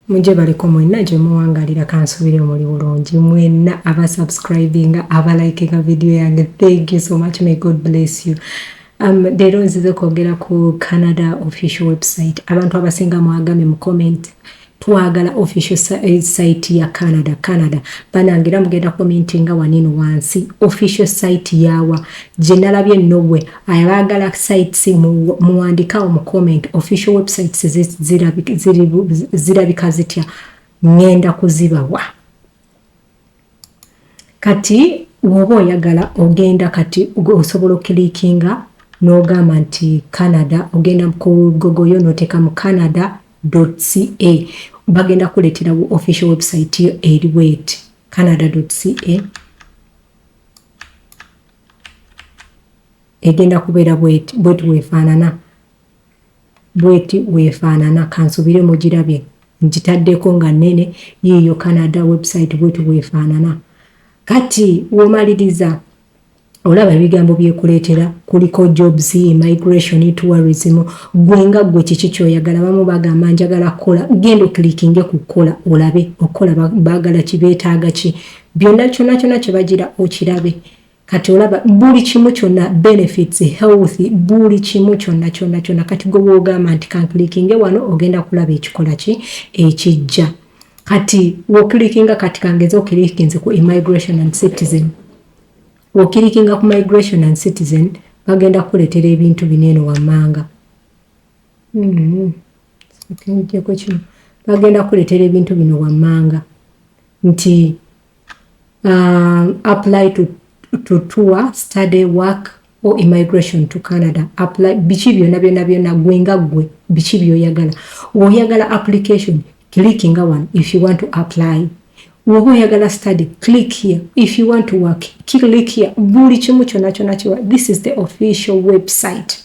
mujje baliko mwenna gye muwangalira kansubire muli bulungi mwenna aba subscribinga aba likinga vidiyo yange thank you so much may god bless you Um, leero nzize kwogera ku canada official website abantu abasinga mwagambye mu comment Twagala official site ya Canada Canada banange era mugenda commentinga wanino wansi official site yawa gyenalabye nobwe ayabagala sites muwandikawo mu comment official websites zirabika zitya ngenda kuzibawa. Kati woba oyagala ogenda kati osobola okilikinga nogamba nti Canada ogenda kugogoyo noteka mu Canada ca bagenda kuletera wo official website yo eri bweti Canada ca egenda kubeera bweti bweti wefaanana. Bweti bwefaanana. Kansubire mugirabye. Ngitaddeko nga nnene. Yiiyo Canada website bweti bwefaanana. Kati womaliriza olaba ebigambo byekuleetera kuliko jobs, immigration, tourism. Ggwe nga ggwe kiki kyoyagala? Abamu bagamba njagala kukola. Genda okilikinge ku kukola olabe okukola baagala ki, beetaaga ki. Byonna kyonna kyonna kyebagira okirabe. kati olaba buli kimu kyonna benefits health buli kimu kyonna kyonna kyonna kati gwe bwogamba nti kanklikinge wano ogenda kulaba ekikola ki ekijja kati wokilikinga kati kangeze okilikinze ku immigration and citizen wokilikinga ku migration and citizen bagenda kukuletera ebintu bino eno wammanga mm-hmm. kino bagenda kukuletera ebintu bino wammanga nti um, apply to, to tour study work or immigration to canada apply biki byona byona byona gwe nga gwe biki byoyagala woyagala application click nga one if you want to apply woba oyagala study click here if you want to work click here buli kimu kyona kyona kiwa this is the official website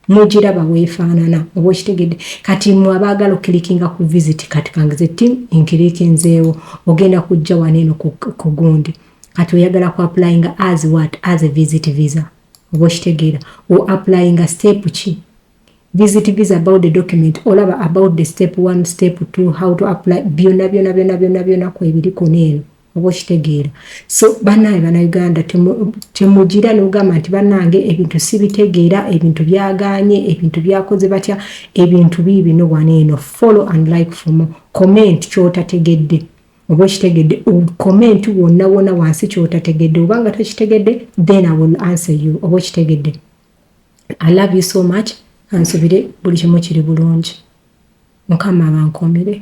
mujiraba wefaanana oba okitegedde kati mwe abaagala okilikinga ku visit kati kangize ti nkilikinzeewo ogenda kujja wano eno ku gundi kati oyagala ku applyinga as what as a visit visa oba okitegeera o applyinga step ki visit visa about the document olaba about the step one step two how to apply byona byona byona byona byona kwebiriko neeno oba okitegeera so banaye banauganda temugira nogamba nti banange ebintu sibitegeera ebintu byaganye ebintu byakoze batya ebintu biibino wano eno follow and like fomo comment kyotategedde oba okitegedde comment wonna wona wansi kyotategedde oba nga tokitegedde then i will answer you oba okitegedde i love you so much ansubire buli kimu kiri bulungi mukama abankomire